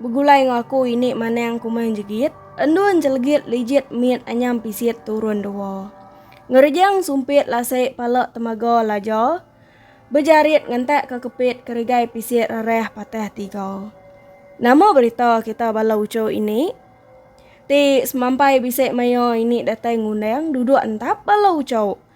Begulai enggau aku ini manang kumang jegit, endun jelegit lijit mit anyam pisit turun dua. Ngerejang sumpit lasi pala temaga laja, bejarit ngentak ke kepit kerigai pisit rerah patah tiga. Nama berita kita bala uchu ini? Ti semampai bisi maya ini datai ngundang duduk entap bala uchu.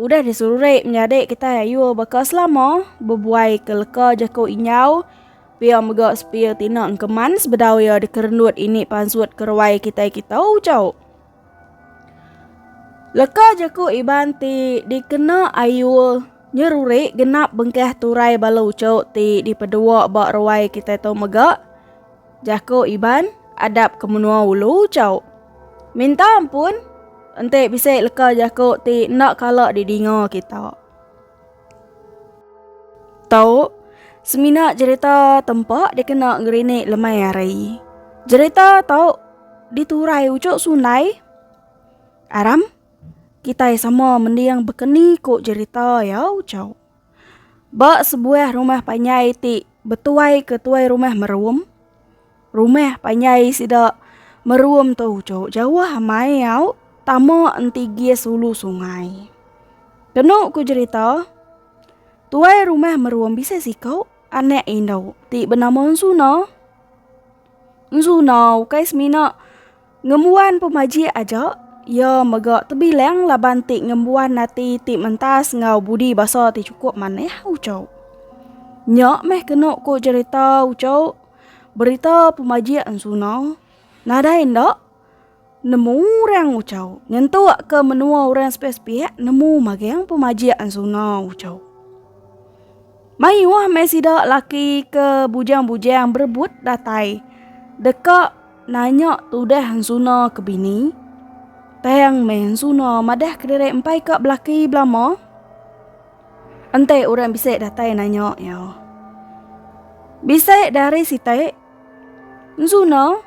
Udah disurek menyadi kitai ayu baka selama bebuai ke leka jaku inyau pia mega sepia tina engkeman sebedau ia dikerendut ini pansut keruai kitai kita ucau. Leka jaku Iban ti dikena ayu nyerurek genap bengkah turai bala ucau ti dipedua ba ruai kitai tu mega. Jaku Iban adap ke menua ulu chau. Minta ampun enti bisi leka jaku ti enda kala didinga kita. Tau semina jerita tempa dikena ngerinik lemai hari. Jerita tau diturai ujuk sunai. Aram kitai sama mending bekeni ku jerita ya ucau. Ba sebuah rumah panjai ti betuaika tuai rumah Merum, rumah panjai sida Merum tu jauh-jauh amai au tama enti gis ulu sungai. Kenu ku jerita, tuai rumah Merum bisi siku anak indu ti benama Ensuna. Ensu nah ukai semina ngembuan pemajik aja, iya mega tebilang laban ti ngembuan ati ti mentas enggau budi basa ti chukup manah ucok. Nya meh kenu ku cherita ucok, berita pemajik ensu nah. Nadai enda. Nemu orang ucau. Nyentuk ke menua orang sepih-sepih nemu magang pemajik ansuna ucau. Mayuh mai sida laki ke bujang-bujang berebut datai. Deka nanya tudah ansuna ke bini. Tang mai ansuna madah ke diri empai ka belaki belama. Enti orang bisik datai nanya iya. Bisik dari sitik. Ansuna.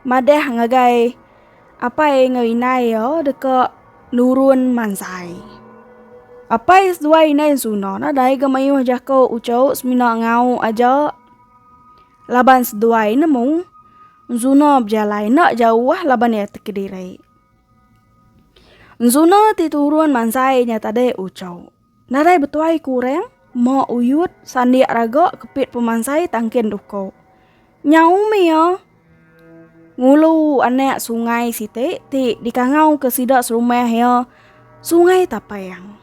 Madah ngagai apai enggau inai iya deka nurun mansai. Apai seduai inai Ensuna ne dai ga mayuh jako ucho semina ngau aja laban seduai nemu Ensuna bejalai enda jauh laban iya ti kediri. Ensuna ti turun mansai nya tadi ucho. Nadai betuai ku urang, mok uyut, sandik raga kepit pemansai tangkin duko. Nyau umi ya. Ngulu anak sungai siti ti dikangau ke sida serumah ya sungai tapang.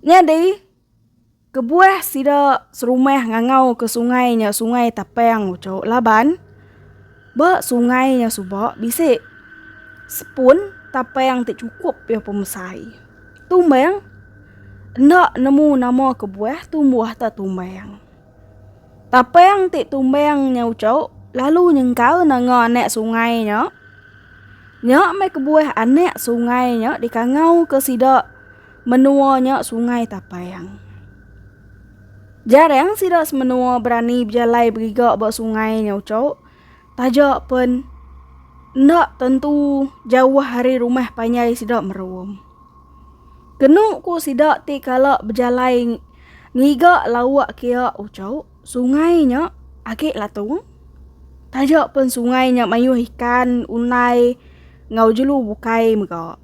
Nyadi Kebuah sida serumah ngangau ke sungai nya Sungai Tapang uchu laban ba sungai nya suba bisi sepun tapang ti chukup iya pemesai. Tumbang enda nemu nama kebuah tumbuh ta tumbang. Tapang ti tumbang nya uchu lalu nyengkal nanga anak sungai nya. Nya meh kebuah anak sungai nya dikangau ke sida. Menua nya Sungai Tapang. Jarang sida semenua berani bejalai beriga ba sungai nya uco. Taja pen enda tentu jauh ari rumah panjai sida merum. Kenu ku sida ti kala bejalai ngiga lauk kia uco, sungai nya agi latung. Taja pen sungai nya mayuh ikan, unai enggau jelu bukai mega.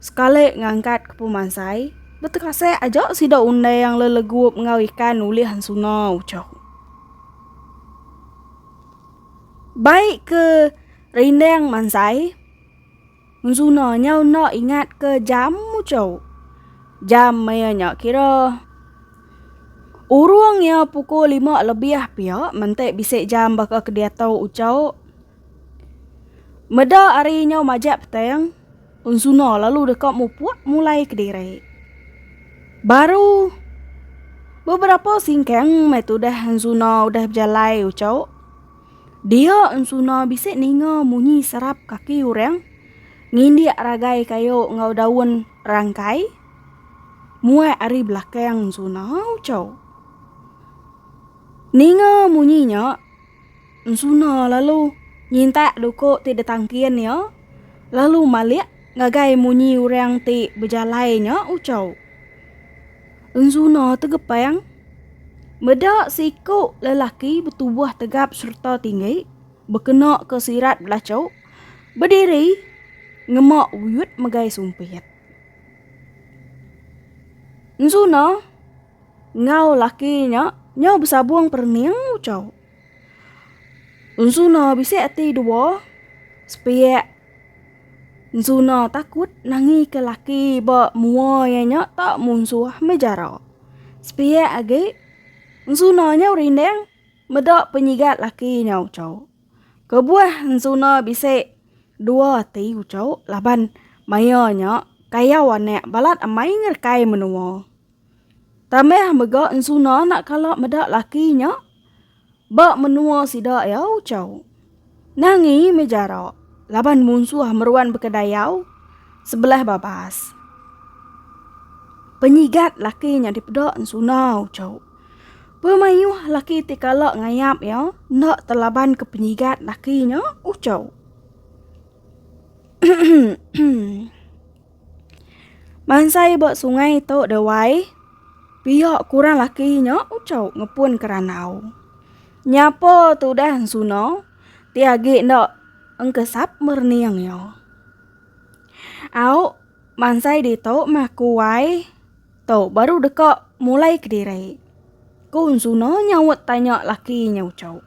Sekali ngangkat ke pemansai, betekasih aja sida undai yang lelegup enggau ikan ulih ensuna ucok. Baik ke rindang mansai, ensuna nya enda ingat ke jam ucok. Jam maya nya kira urung iya pukul lima lebih pia menti bisi jam baka ke diatu ucok. Meda ari nyau majak petang, Unsuna lalu deka mupuk mulai kediri. Baru beberapa singkang mai tudah Unsuna udah bejalai ucuk, dia Unsuna bisi ninga munyi serap kaki orang ngindik ragai kayu enggau daun rangkai muat ari belakang Unsuna ucuk. Ninga munyi nya. Ensuna lalu nyintak duku ti ditangkin iya lalu malik ngagai munyi orang ti bejalai nya uchau. Ensuna tegepang meda seiku lelaki betubuh tegap sereta tinggi bekena ke sirat belachu bediri ngema uyut megai sumpit. Ensuna. enggau laki nya nyau besabung perening ucau. Ensuna bisi ati dua, sepiak Ensuna takut nangi ke laki ba mua iya nya tak munsuh meh jara. Sepiak agi, Ensuna nyau rindang meda penyigat laki nya ucau. Kebuah Ensuna bisi dua ati ucau laban maya nya kayau anak balat amai ngerekai menua. Tambah mega ensuna enda kala meda laki nya ba menua sida iya ucau. Nangi meh jarak laban munsuh meruan baka dayau sebelah babas. Penyigat laki nya dipeda ensuna ucau. Pemayuh laki ti kala ngayap iya enda telaban ke penyigat laki nya ucau. Bansa iya ba sungai tu deh wai, pia ku orang laki nya ucau ngepun ke randau. Nyapa tudah ensuno ti agi enda engkesap merening iya. Au bansa ditu meh ku wai tu baru deka mulai kediri, ku ensuno nyaut tanya laki nya ucau.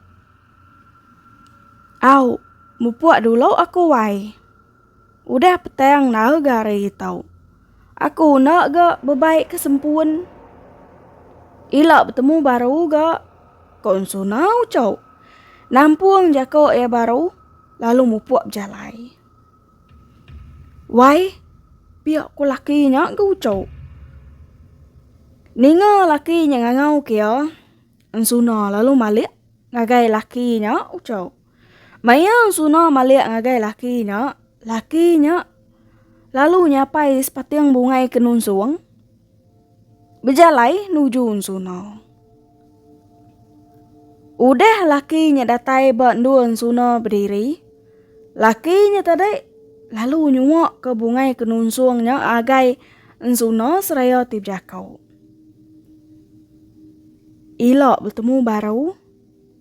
Au mupuk dulu aku wai. Udah petang nau ga hari tau. Aku enda ga bebaik ke sempun. Ila betemu baru ga ko ensu nau cau. Nampung jako iya baru lalu mupuk bejalai. Wai pia ko laki nya ga uco. Ninga laki nya ngangau ke iya ensuna lalu malik ngagai laki nya uco. Maya Suna malik ngagai laki nya, laki nya lalu nyapai sepating bungai ke nunsung bejalai nuju Suna. Udah laki nya datai ba endur Suna bediri, laki nya tadi lalu nyuak ke bungai ke nunsung nya agai Suna seraya ti bejakau. Ila betemu baru.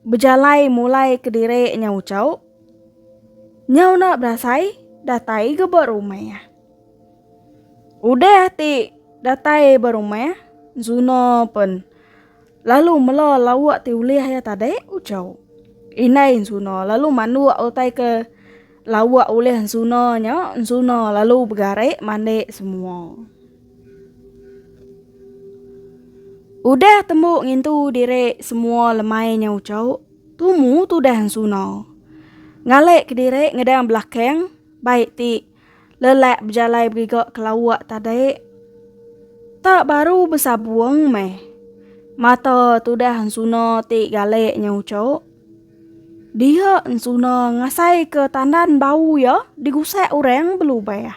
Bejalai mulai kediri nyau ucau. Nyau enda berasai datai ga ba rumah. Udah ti datai ba rumah Zuna pen lalu mela lauk ti ulih iya tadi ucau. Indai Zuna lalu manduk utai ke lauk ulih Zuna nya Zuna lalu begari mandi semua. Udah tembu ngintu diri semua lemai nya ucok, tumu tudah ensuna. Ngalek ke diri ngedang belakang, baik ti lelak bejalai beriga ke lawak tadi. Tak baru besabong meh, mata tudah ensuna ti galek nya ucok. Dia ensuna ngasai ke tandan bau iya digusak orang belubah.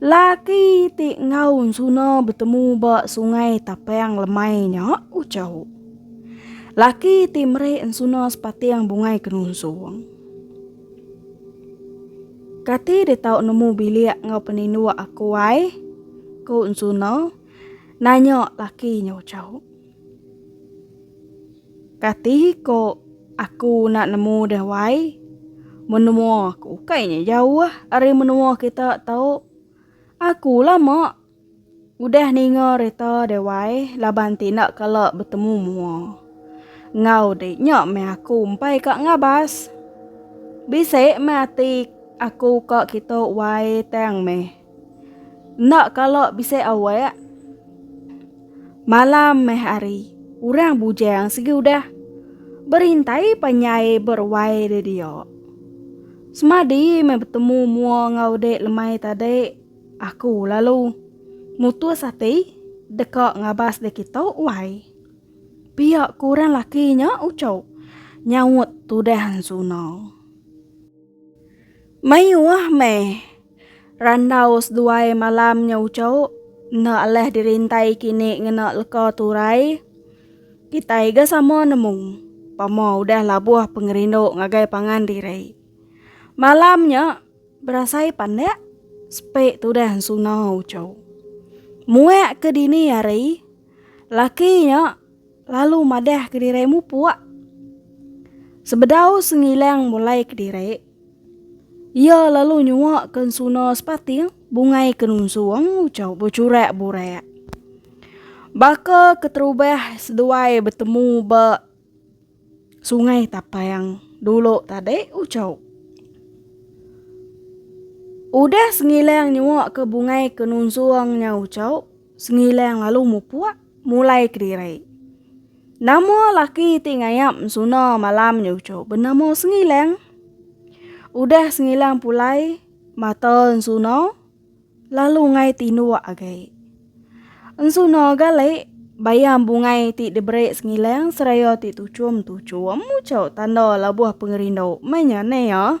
Laki ti enggau Ensuna betemu ba Sungai Tapang lemai nya uchu. Laki ti meri Ensuna sepating bungai kenunsung. Kati dia tau nemu bilik enggau peninduk aku ai? Ku Ensuna nanya laki nya uchu. Kati ko aku nak nemu deh wai. Menua aku kai nya jauh ari menua kita tau. Aku lama udah ninga rita deh wai laban ti enda kala betemu mua. Ngau di nya meh aku empai ka ngabas. Bisi meh ati aku ka kitu wai tang meh. Enda kala bisi awak. Malam meh hari, orang bujang sigi udah berintai panyai beruai di dia. Semadi meh betemu mua enggau dek lemai tadi, aku lalu mutus ati deka ngabas dek kita uai. Pia ku orang laki nya uchup nyaut tudah ensuna. Mayuh meh. Randau seduai malam nya uchu, enda alah dirintai kini ngena leka turai. Kitai ga sama nemu, pama udah labuh pengerindu ngagai pangan diri. Malam nya berasai pandak sepi tudah ensuna uchu. Muak ke dini hari, laki nya. Lalu madah kediri mupuk. Sebedau sengilang mulai kediri. Ia lalu nyua ke suna sepating bungai ke nunsung ucau becurak burak. Baka keterubah seduai bertemu ba sungai tapang dulu tadi ucau. Udah sengilang nyua ke bungai ke nunsung nya ucau sengilang lalu mupuk. mulai kediri. Nama laki ti ngayap suna malam nyucu bernama Sengilang. Udah Sengilang pulai mata suna lalu ngai tinduk agai. Suna gali bayam bungai ti diberi Sengilang seraya ti tuchum-tuchum mucau tanda labuh pengerindu menya nea.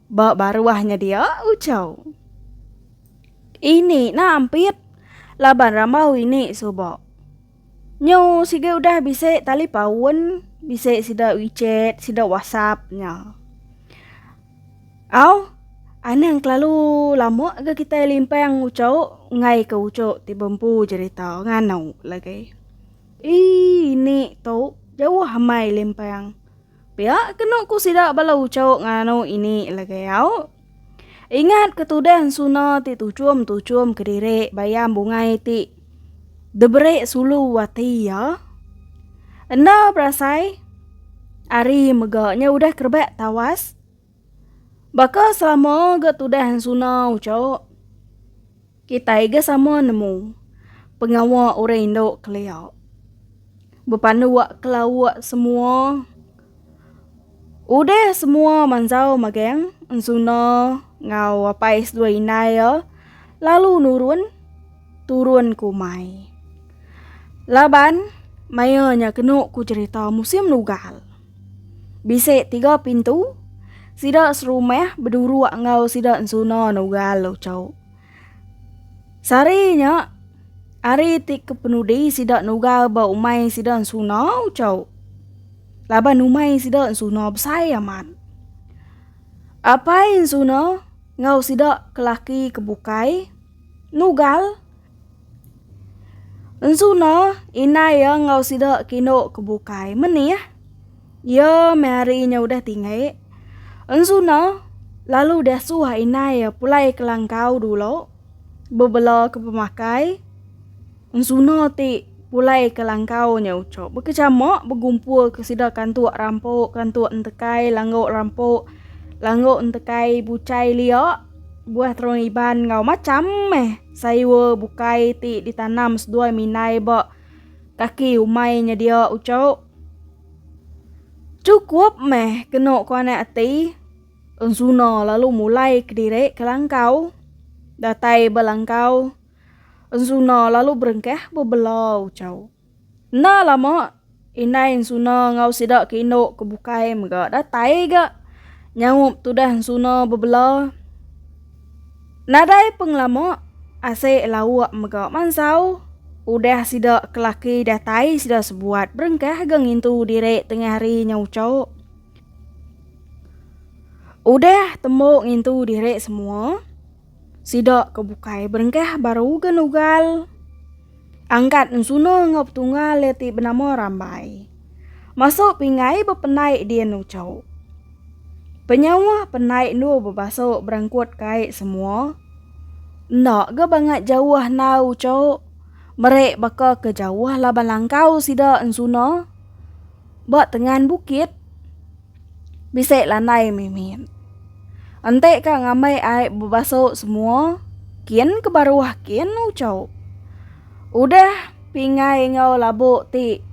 Ba baruah nya dia ucau. Ini nah ampit laban rambau ini suba. Nyu siga udah bisi tali paun, bisi sida wechat, sida whatsapp nya. Au, anang kelalu lama ga kitai limpang ucau enggai ke ucu ti bempu jerita nganu lagi. Ii ini tu jauh amai limpang. Pia kenu ku sida bala ucau nganu ini legau. Ingat ke tudan suna ti tuchum-tuchum kediri bayam bungai ti deberi sulu ati iya? Enda berasai ari mega nya udah kerebak tawas. Baka selama ga tudah ensuna uco, kitai ga sama nemu pengawa orang indu kelia bepandu wak kelauk semua udah semua manzau magang ensuna enggau apai seduai indai iya lalu nurun turun ke umai laban maionya kenu ku cerita musim nugal. Bisi tiga pintu, sida serumah beduruk enggau sida ensuna nugal luchok. Sehari nya, hari ti kepenudi sida nugal ba umai sida ensuna uchok. Laban umai sida ensuna besai amat. Apai ensuna enggau sida ke laki ke bukai nugal. Ensu no, indai iya enggau sida ke indu ke bukai menih. Iya meh ari inya udah tinggi. Ensu no, lalu deh suah indai iya pulai ke langkau dulu bebela ke pemakai. Ensu no ti pulai ke langkau nya uchup bekechama begumpul ke sida kantuk rampu, kantuk entekai, langgu rampu, langgu entekai buchai liak, buah terong iban enggau macham meh. Sayur bukai ti ditanam seduai minai ba kaki umai nyedia uchu. Chukup meh kenu kuanak ati. Ensuna lalu mulai kediri ke langkau. Datai ba langkau, Ensuna lalu berengkah bebela uchu. Enda lama, indai Ensuna enggau sida ke indu ke bukai mega datai ga nyaup tudah Ensuna bebela. Nadai pengelama, Asik Lauk mega mansau. Udah sida ke laki datai sida sebuat berengkah ga ngintu diri tengah hari nya uchup. Udah tembu ngintu diri semua. Sida ke bukai berengkah baru ke nugal angkat ensuna enggau petunggal iya ti benama Rambai. Masuk pingai bependai di enu chau. Penyauh pendai endu bebasa berangkut kai semua. Enda ga bangat jauh nau chau. Meri baka ke jauh laban langkau sida ensuna ba tengan bukit. Bisi lanai mimin. Enti ka ngambi ai bebasu semua kin ke baruh kin ucok. Udah pingai enggau labu ti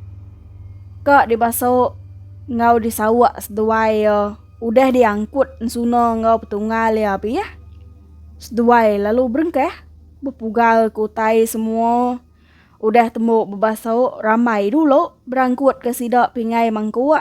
ka dibasu enggau disauk seduai iya udah diangkut ensuna enggau petunggal iya abi yeh. Seduai lalu berengkah bepugal ke utai semua udah tembu bebasu ramai dulu berangkut ke sida pingai mangkuk.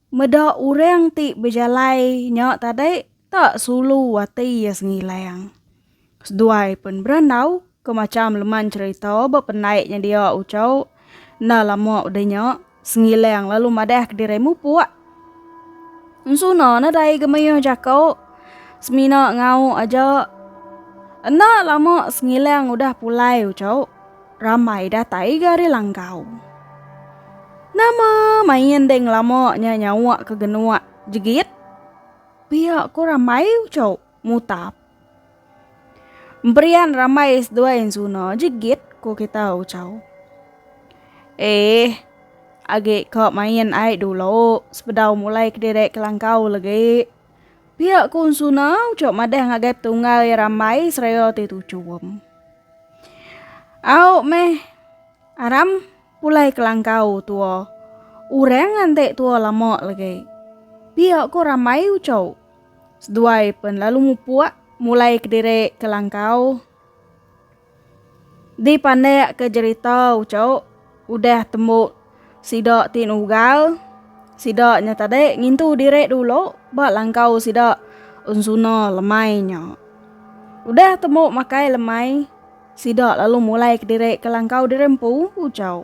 Meda orang ti bejalai nya tadi tak sulu ati iya sengilang. Seduai pen berandau ke macham leman cherita ba pendai nya dia ucau enda lama udah nya sengilang lalu madah ke diri mupuk. Ensuna nadai ga mayuh jako semina ngau aja. Enda lama sengilang udah pulai ucau. Ramai datai ga ari langkau. Nama main deh ngelama nya nyawa ke genua jegit? Pia ko ramai uco mutap. Emperian ramai seduai ensuna jegit ko kita uco. Eh, agi ka main ai dulu sebedau mulai kediri ke langkau legi. Pia ku Unsuna ucok madah ngagai tunggal iya rambai Israel ti tuchum. Au meh Aram pulai ke langkau tua. Orang nganti tua lama lagi. Pia ku rambai ucok. Seduai pen lalu mupuk mulai kediri ke langkau. Dipandak ke jerita uchu udah tembu sida ti nugal sida nya tadi ngintu diri dulu ba langkau sida ensuna lemai nya. Udah tembu makai lemai sida lalu mulai kediri ke langkau diri empu uchu.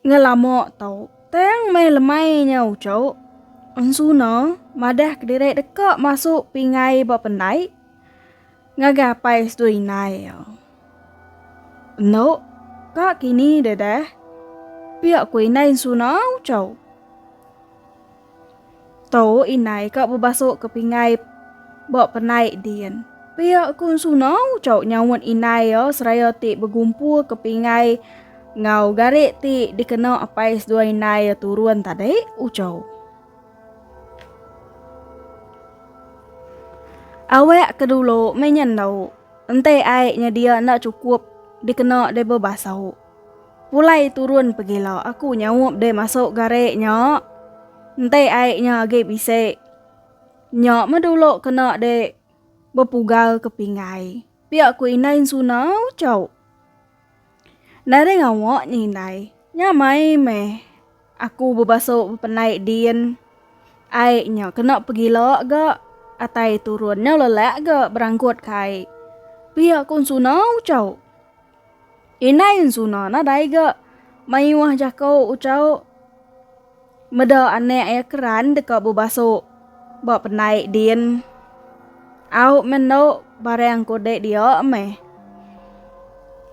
Ngelama tu, tang meh lemai nya uchu. Ensuna madah kediri deka masuk pingai ba pendai ngagai apai seduai indai iya. Enu ka kini deh dah, pia ku indai Ensuna uchu. Tu indai ka bebasok ke pinggai ba penai din. Pia ku Ensuna ucau nyaut indai iya seraya ti begumpu ke pinggai enggau garik ti dikena apai seduai indai iya turun tadi, ucau. Awak ke dulu meh nya endu, enti ai nyedia enda chukup dikena deh bebasok. Pulai turun pegila aku nyaup deh masuk gare nya. Ente ai nya agi bisi. Nya meh dulu kena dek bepugal ke pinggai. Pia ku indai ensuna ucau. Nereng awak nya indai. Nya mai meh aku bebasu bependai din. Ai nya kena pegila ga atai turun nya lelak ga berangkut kai. Pia ku ensuna ucau. Indai Ensuna nadai ga mayuh jako ucau meda anak iya keran deka bebaso ba pendai din. Au meh endo barang kode dia meh.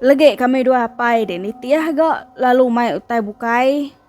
Legi kami dua apai din nitih ga lalu mai utai bukai.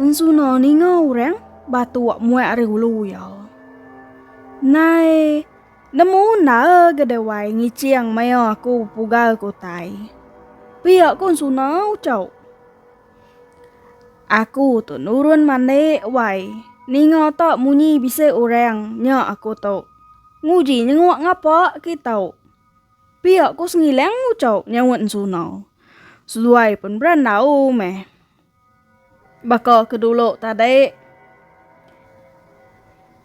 Ensuna ninga orang batu wak muai ari hulu ya. Nai nemu nara gedewai ngicing maya aku pugal ke utai. Pia ku ensuna ucau. Aku tu nurun mandik wai ninga tak munyi bisi orang nya aku tu. Nguji nyenguk ngapa kitu. Pia ko Sengilang ngucau nyaut Ensunau. Seduai pen berandau meh. Baka ke dulu tadi.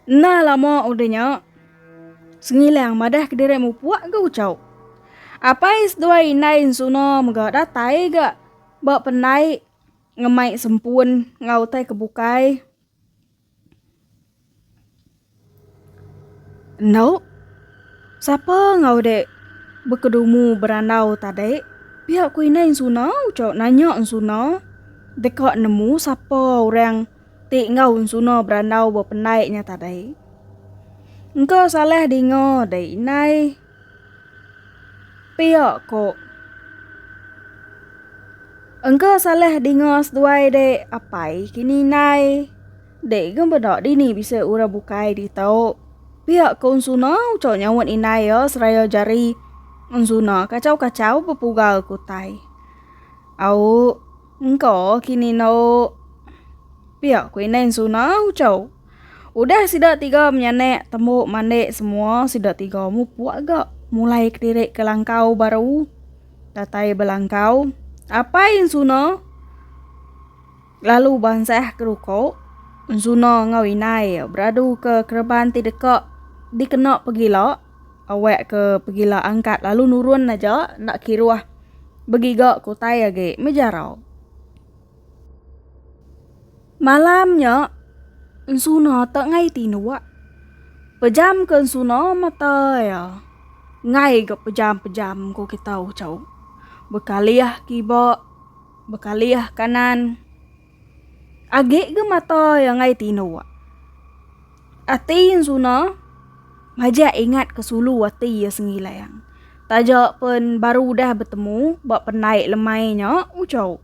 Enda lama udah nya Sengilang madah ke diri mupuk ga ucau. Apai seduai indai Ensuna mega datai ga ba pendai ngemai sempun enggau utai ke bukai. Endo, sapa enggau dek bekedumu berandau tadi pia ku indai ensuna ucok nanya ensuna deka nemu sapa orang ti enggau ensuna berandau bependai nya tadi. Engka salah dinga dek indai Pia ko. Engka salah dinga seduai dek apai kini indai. Dek gem beda dini bisi orang bukai ditu. Pia ko Ensuna ucok nyaut indai iya seraya jari. Ensuna kacau kacau bepugal ke utai. Au engka kini eno. Pia ko indai Ensuna ucok. Udah sida tiga menyanak tembu mandi semua sida tiga mupuk ga mulai kediri ke langkau baru datai belangkau apai ensuna lalu bansah ke ruko ensuna enggau indai beradu ke kereban ti deka dikena pegila awak ke pegila angkat lalu nurun aja enda kiruh begiga ke utai agi mejarau. Malam nya, ensuna tenggai tinduk. Pejam ke ensuna mata iya. Enggai ga pejam-pejam ko kita ucau. Bekalih kiba, bekalih kanan. Agi ga mata iya enggai tinduk. Ati ensuna majak ingat ke sulu ati iya Sengilang. Taja pen baru udah betemu ba pendai lemai nya ucau.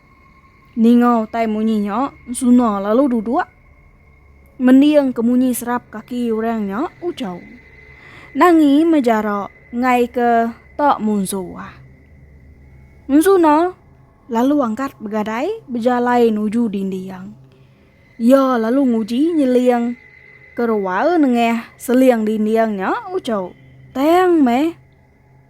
Ninga utai munyi nya, Suna lalu duduk mending ke munyi serap kaki orang nya ujau. Nangi mejara ngaika tak munsuh. Suna lalu angkat begadai bejalai nuju dinding. Iya lalu nguji nyeling ke rual nengah seling dinding nya ujau. Tang meh.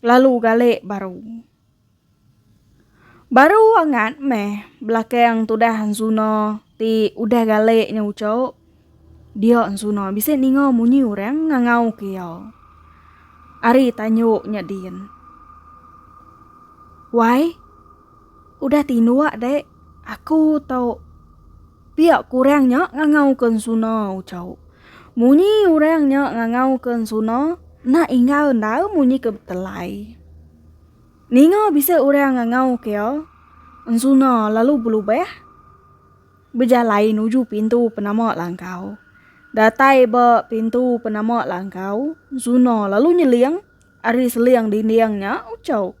Lalu gali baru. Baru angat meh belakang tudah Ansuno ti udah gali nya ucho. Dio Ansuno bisi ninga munyi orang ngangau ke iya. Ari tanyo nya din. Wai, udah tinduk dek, aku tau Pia kurang nya ngangauka ensuna, uchauk. Munyi urang nya ngangauka ensuna, enda ingau enda munyi ke betelai. Ninga bisi urang ngangauka iya, ensuna lalu belubah bejalai nuju pintu penama langkau. Datai ba pintu penama langkau, ensuna lalu nyeling ari seling dinding nya, uchauk.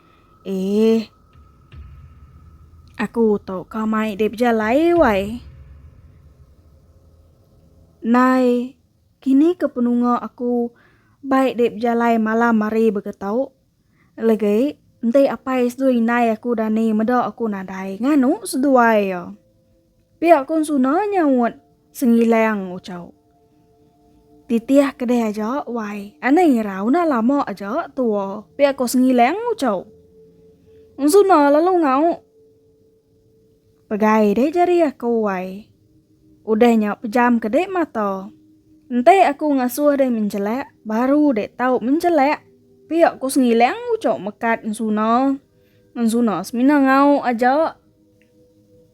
Eh. Aku tau ka mai deh bejalai wai. Nai, kini ke penunga aku bai deh bejalai malam hari baka tau. Legai enti apai seduai indai aku dani meda aku nadai nganu seduai iya. Pia kon suna nyaut Sengilang Uchau. Titih kedeh aja wai anai irau nah lama aja tua pia ko Sengilang Uchau. Ung suna lalu ngau Pegai deh jari aku wai. Udah nya pejam ke deh mata. Enti aku ngasuh deh menjelak baru deh tau menjelak pia ko Sengilang Uchau mekat ung suna. Ung suna semina ngau aja.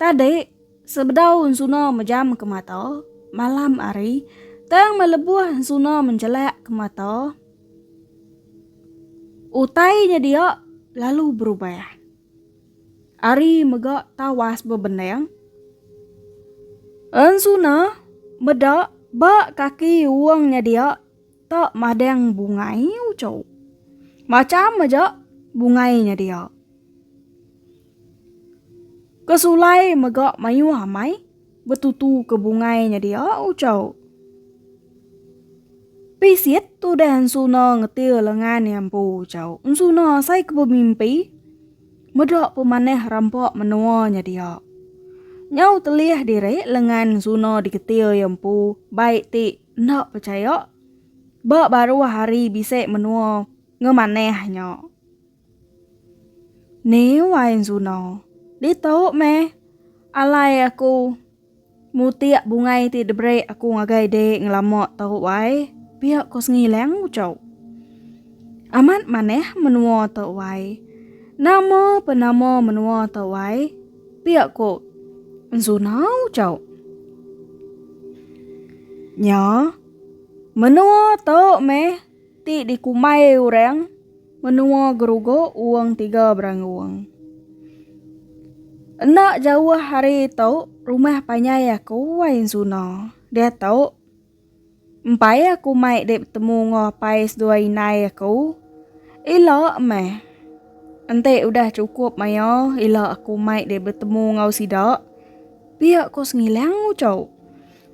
Tadi, sebedau ensuna mejam ke mata, malam hari, tang melebuh ensuna menjelak ke mata, utai nya dia lalu berubah. Hari mega tawas bebendang, ensuna meda ba kaki uang nya dia tak madang bungai uchu. Macham aja bungai nya dia. Ke sulai mega mayuh amai betutu ke bungai nya dia ucau. Pisit tudah ensuna ngetir lengan iya empu ucau. Ensuna asai ke bemimpi meda pemanah rampa menua nya dia. Nyau telih diri lengan ensuna diketir iya empu bai ti enda pechaya ba baruh hari bisi menua ngemanah nya. Ni wai enzuna. Ditu meh alai aku mutik bungai ti diberi aku ngagai de ngelama tu wai pia ko sengilang uchu. Amat manah menua tu wai. Nama pe nama menua tu wai pia ko enzuna uchu. Nya menua tu meh. Ti dikumbai orang menua gerugo uong tiga beranguong. Enda jauh ari tu rumah panjai aku wai ensuna. Diatu empai aku mai dek betemu enggau apai sedua indai aku. Ila meh. Enti udah cukup maia ila aku mai dek betemu enggau sida. Pia ko Sengilang ucau.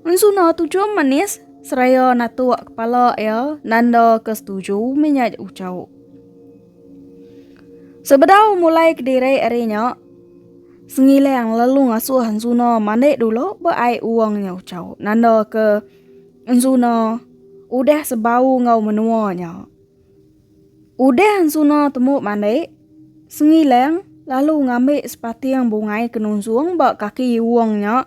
Ensuna tu jom manis seraya natuk kepala iya nanda ke setuju mih nya ucau. Sebedau mulai kediri ari nya, Sengilang lalu ngasuh Ensuna mandi dulu ba ai uang nya ucau nanda ke Ensuna udah sebau enggau menua nya. Udah Ensuna temu mandi, Sengilang lalu ngambi sepating bungai kenungsung ba kaki uang nya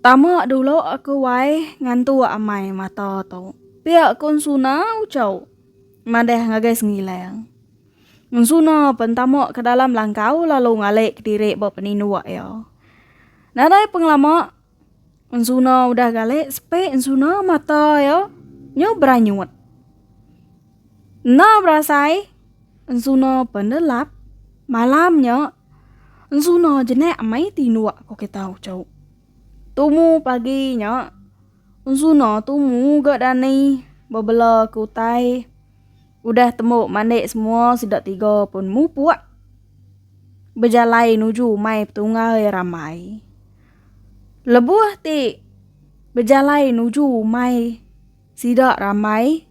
Tama dulu aku wai ngantu amai mata tu. Pia kun suna ucau madah ngagai Sengilang. Suna pen tama ke dalam langkau lalu ngalik kediri ba peninduk iya. Nadai pengelama suna udah galik sepi suna mata iya nyu beranyut. Enda berasai suna pen delap malam nya Enzuna jenak amai tinduk ko kita ucau. Tumu pagi nya enzuna tumu ga dani bebela ke utai udah tembu mandik semua sida tiga pun mupuk bejalai nuju umai petunggai ramai. Lebuh ti bejalai nuju umai sida ramai.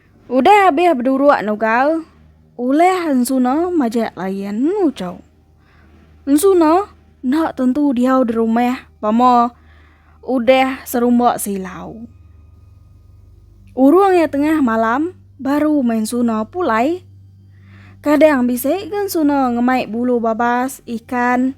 Udah abih beduruk nugal, ulih Ensuna majak layan Ucok. Ensuna enda tentu diau di rumah pama udah serumba silau. Urung iya tengah malam baru meh Ensuna pulai. Kadang bisi ga Ensuna ngemai bulu babas, ikan.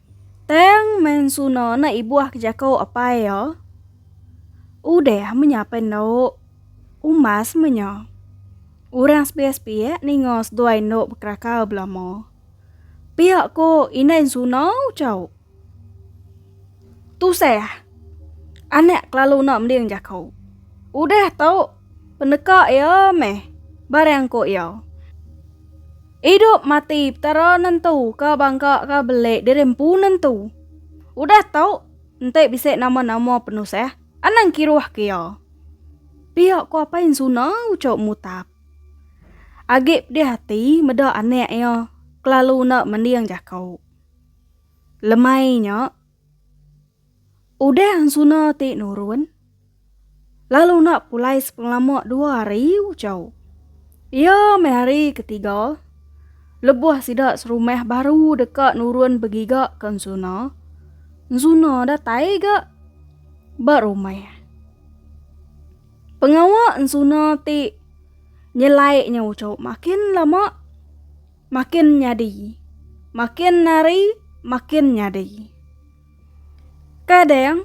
Tang mensuna enda ibuh ke jako apai iya. Udah menya pen endo umas menya. Orang sepiak-sepiak ninga seduai endo bekeraka belama. Pia ko indai ensuna ucau. Tusah anak kelalu enda mending jako. Udah tu peneka iya meh barang ko iya. Idup mati Petara nentu ka bangka ka belik diri empu nentu. Udah tu, enti bisi nama-nama penusah, anang kiruh ke iya. Pia ko apai Ensuna ucok Mutap. Agi pedih ati meda anak iya kelalu enda mending jako. Lemai nya. Udah Hansuna ti nurun, lalu enda pulai sepengelama dua hari ucau. Iya meh hari ketiga, lebuh sida serumah baru deka nurun begiga ke Hansuna, Hansuna datai ga ba rumah. Pengawa Hansuna ti nyelai nya ucau makin lama makin nyadi, makin hari makin nyadi. Kadang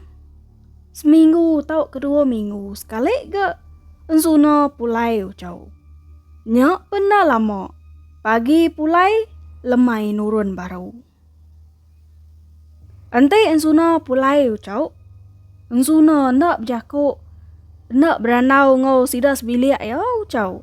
seminggu tau kedua minggu sekali ga ensuna pulai ucau. Nya pen enda lama pagi pulai lemai nurun baru. Enti ensuna pulai ucau ensuna enda bejako enda berandau enggau sida sebilik iya ucau.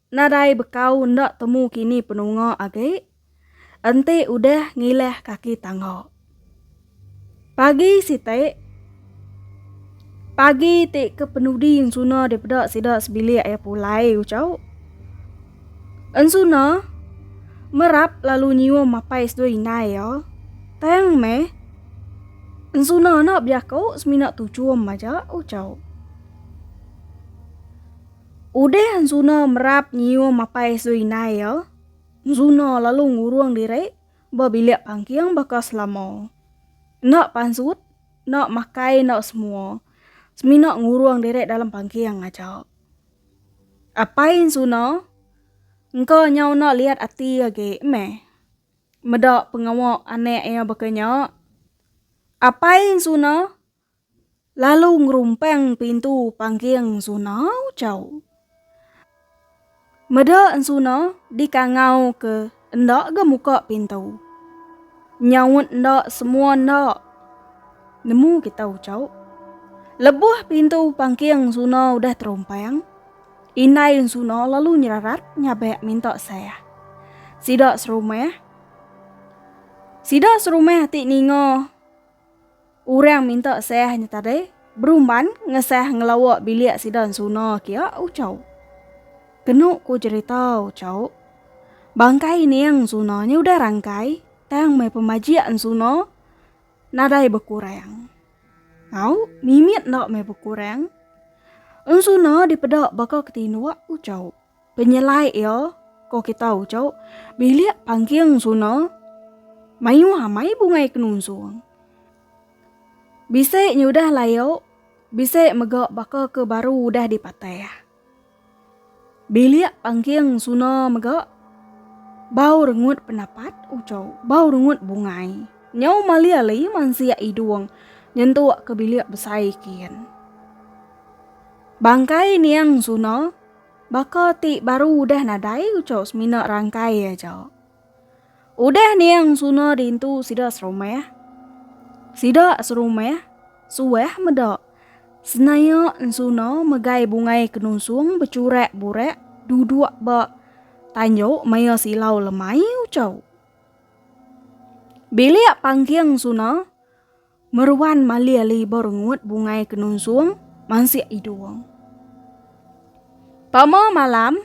Nadai bekau enda temu kini penunga agi, enti udah ngilah kaki tangga. Pagi siti, pagi ti ke penudi ensuna dipeda sida sebilik iya pulai ucau. Ensuna merap lalu nyium apai seduai indai iya. Tang meh, ensuna enda bejaku semina tuchum aja, ucau. Udah Enzuna merap nyium apai Zuinai iya, Enzuna lalu ngurung diri ba bilik pangking baka selama. Enda pansut, enda makai enda semua, semina ngurung diri dalam pangking aja. Apai Enzuna engka nyau enda liat ati agi meh meda pengawa anak iya baka nya. Apai Enzuna. Lalu ngerumpang pintu pangking suna ucau. Meda ensuna dikangau ke enda ga muka pintu. Nyaut enda semua enda. Nemu kita ucau. Lebuh pintu pangking suna udah terumpang, indai ensuna lalu nyerarat nyabak minta sah. Sida serumah, sida serumah ti ninga. Orang minta sah nya tadi berumban ngesah ngelawa bilik sida ensuna kia Uchau. Kenu ku jerita Uchau, bangkai ining ensuna nya udah rangkai tang meh pemajik ensuna nadai bekurang. Au, mimit enda meh bekurang. Ensuna dipeda baka ke tinduk Uchau. Penyelai iya ko kita uco bilik pangking suna mayuh amai bungai kenunsung. Bisi nya udah layo, bisi mega baka ke baru udah dipatah. Bilik pangking suna mega bau rengut penapat uco bau rengut bungai. Nyau mali ali mansia idung nyentuk ke bilik besai kin. Bangkai niang suna. Baka ti baru udah nadai ucau semina rangkai aja. Udah niang suna dintu sida serumah. Sida serumah suah meda senaya ensuna megai bungai kenusung becurak burak duduk ba tanjuk maya silau lemai ucau. Bilik pangking suna. Meruan malir liba rengut bungai ke nunsung mansik idung. Pama malam,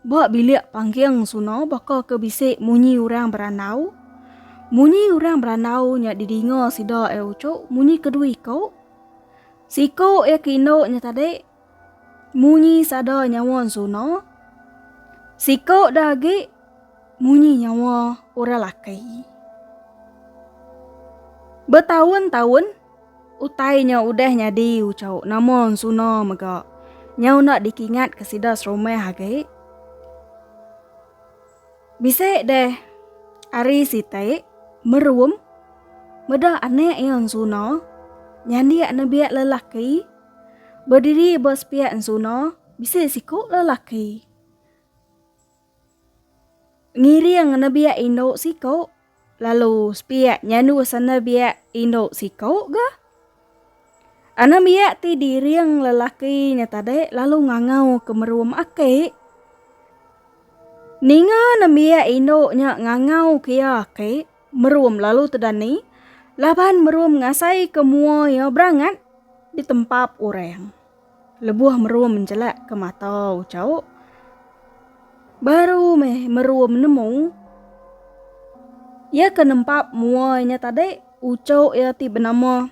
ba bilik pangking suna baka ke bisi munyi orang berandau. Munyi orang berandau nya didinga sida iya ucuk munyi kedui ko. Siko iya ke indu nya tadi Munyi sada nyawa ensuna. Siko da agi munyi nyawa orang laki. Betaun-taun utai nya udah nyadi ucau nama ensuna mega nyau enda dikingat ke sida serumah agi. Bisi deh ari siti merum meda anak iya ensuna nyandik nebik lelaki. Bediri ba sepiak ensuna, bisi siku lelaki. Ngiring nebiak indu siku, lalu sepiak nyandu senebiak indu siku ga. Anembiak ti diring lelaki nya tadi lalu ngangau ke merum aki. Ninga nembiak indu nya ngangau ke iya aki, Merum lalu tedani laban Merum ngasaika mua iya berangat ditempap orang. Lebuh Merum njelakka mata Ucau, baru meh Merum nemu iya ke nempap mua inya tadi ucau iya ti benama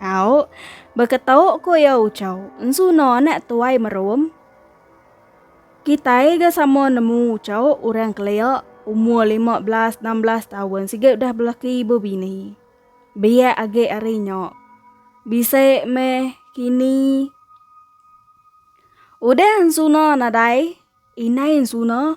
Au, beketok ko iya Uchau, ensu no anak tuai merum. Kitai ga sama nemu Uchau orang kelia umur lima belas enam belas taun siga udah belaki ibu bini. Biak agi ari nya. Bisi meh kini. Udah ensu no nadai, inai ensu no.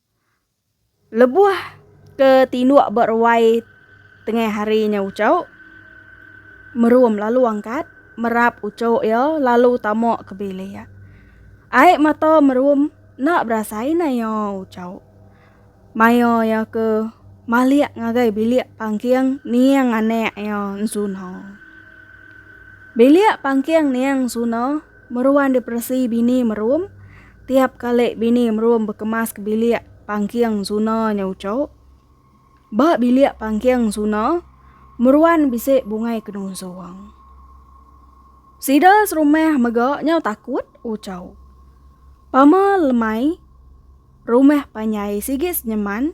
Lebuh ke tinduk ba ruai tengah hari nya uchu Merum lalu angkat merap uchu iya lalu tama ke bilik. Ai mata Merum enda berasai naya uchu. Maya iya ke malik ngagai bilik pangking niang anak iya ensuna. Bilik pangking niang ensuna. Meruan diperesi bini merum, tiap kali bini merum bekemas ke bilik pangking suna nya uco. Ba bilik pangking suna, meruan bisi bungai ke nusung. Sida serumah mega nyau takut uco. Pama lemai rumah panjai sigi senyeman.